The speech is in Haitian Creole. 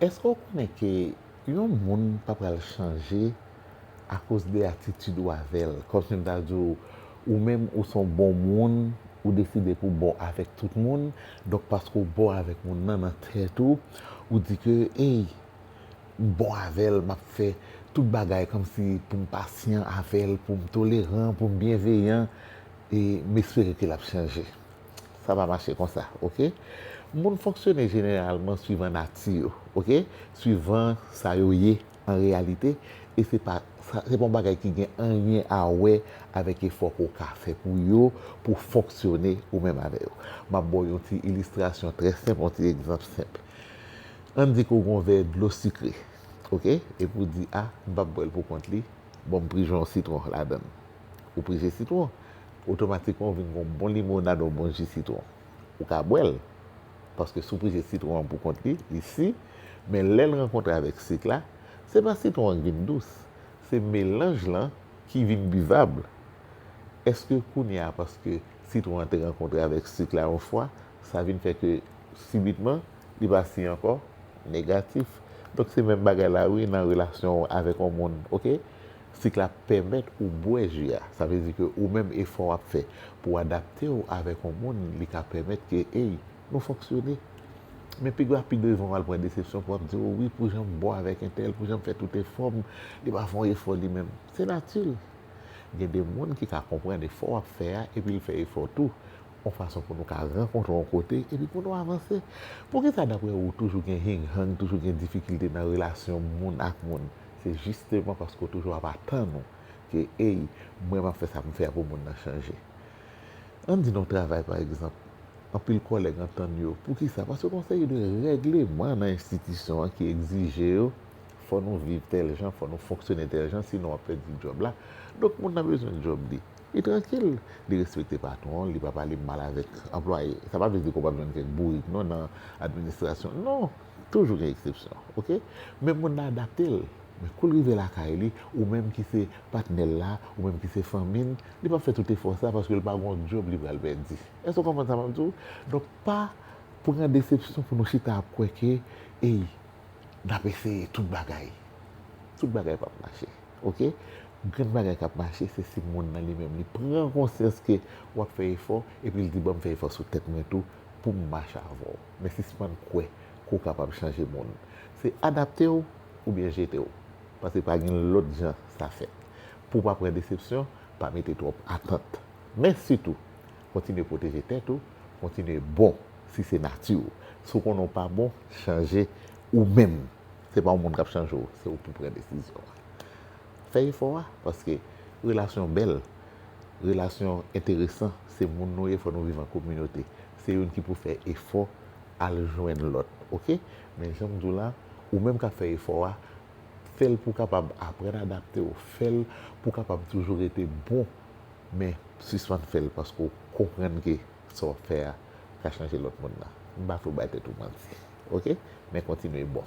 Eske ou konnen ke yon moun pa pral chanje akoz de atitid ou avèl. Kòm si m ta di w, ou menm ou son bon moun, ou deside pou w bon avèk tout moun, donk paske w bon avèk moun nan nan tèt ou, ou di ke ey, m bon avè l, m ap fè tout bagay kòm si pou m pasyan avè l, pou m toleran, pou m byenveyan e m espere ke l ap chanje. Sa pa mache konsa ok. Moun fonksyone jeneralman swivan nati yo ok, swivan sa yo ye an reyalite e se pa yon bagay ki gen anyen a wè avèk efò ke w ka fè pou yo pou w fonksyone ou menm avè yo. M ap ba w yon ti ilistrasyon trè senp, yon ti egzanp senp. Ann di ke w gen yon vè dlo sikre ok epi w di a m p ap bwè l pou kont li, bon m prijon yon sitwon ladan l. Ou prese sitwon, otomatikman ou vin gen yon bon limonad, yon bon ji sitwon. Ou ka bwè l, paske si w prese sitwon an pou kont li, li si, men lè l rankontre avèk sik la, se pa sitwon an ki vin dous, se melanj lan ki vin bivab. Èske kounye a, paske sitwon an te rankontre avèk sik la yon fwa, sa vin fè ke sibitman, li pa si ankò? Negatif. Donk se menm bagay la wi nan relasyon ou avèk yon moun, ok? Sik la pèmèt ou bwè ji a. Sa vle di ke ou menm efò wap fè pou w adapte w avèk yon moun li ka pèmèt ke ey nou fonksyone. Men pi gwa pi devan wal pran desepsyon pou wap di o wi pou jan m bon avèk entèl, pou jan m fè tout efò m, li pa fè yon efò li menm. Se nati l. Gen de moun ki ka konprann efò wap fè a epi l fè efò tou yon fason pou nou ka rankontre yon kote epi pou nou avanse. Poukisa daprè ou toujou gen hing hang, toujou gen difikilte nan relasyon moun ak moun? Se jisteman paske w toujou ap atann ou ke ey mwen map fè sa pou m fè a pou moun nan chanje. Ann di nan yon travay pa egzanp, anpil kòlèg antann yo. Poukisa? Paske gon seri de règleman nan enstitisyon an ki egzije yo fò nou viv tèl jan, fò nou fonksyone tèl jan sinon wap pèdi djòb la. Donk moun nan bezwen djòb li. Li trankil, li respekte patwon l, li pa pale mal avèk anplwaye. Sa pa vle di ke w pap jwenn kèk bourik non nan administrasyon. Non! Toujou gen eksepsyon ok men moun nan adapte l men kou l rive lakay li ou menm ki se patnè l la ou menm ki se fanmi n li pap fè tout efò sa paske l pa gon djòb li pral pèdi èske w konprann sa m ap di w donk pa pran desepsyon pou nou chita ap kwè ke ey n ap eseye tout bagay tout bagay pap mache ok grenn bagay k ap mache se si moun nan li menm li pran konsyans ke w ap fè efò epi l di bon m fè efò sou tèt mwen tou pou m mache avè w. Men sispann kwè ke w kapab chanje moun. Se adapte w oubyen jete w. Paske pa gen lòt jan sa fèt. Pou w pa pran desepsyon, pa mete twòp atant. Men sitou, kontinye pwoteje tèt ou, kontinye bon si se nati w. Si w konnen w pa bon, chanje ou menm. Se pa yon moun k ap chanje w, se ou pou pran desizyon an. Fè efò a, paske relasyon bèl, relasyon enteresan, se moun nou ye, fò nou viv an kominote. Se youn ki pou fè efò al jwenn lòt ok. Men janm di w la, ou menm kap fè efò a, fè l pou w kapab aprann adapte w, fè l pou w kapab toujou rete bon men sispann fè l paske w konprann ke sa wap fè a ka chanje lòt moun nan. M pa vle w bay tèt ou manti ok. Men kontinye bon.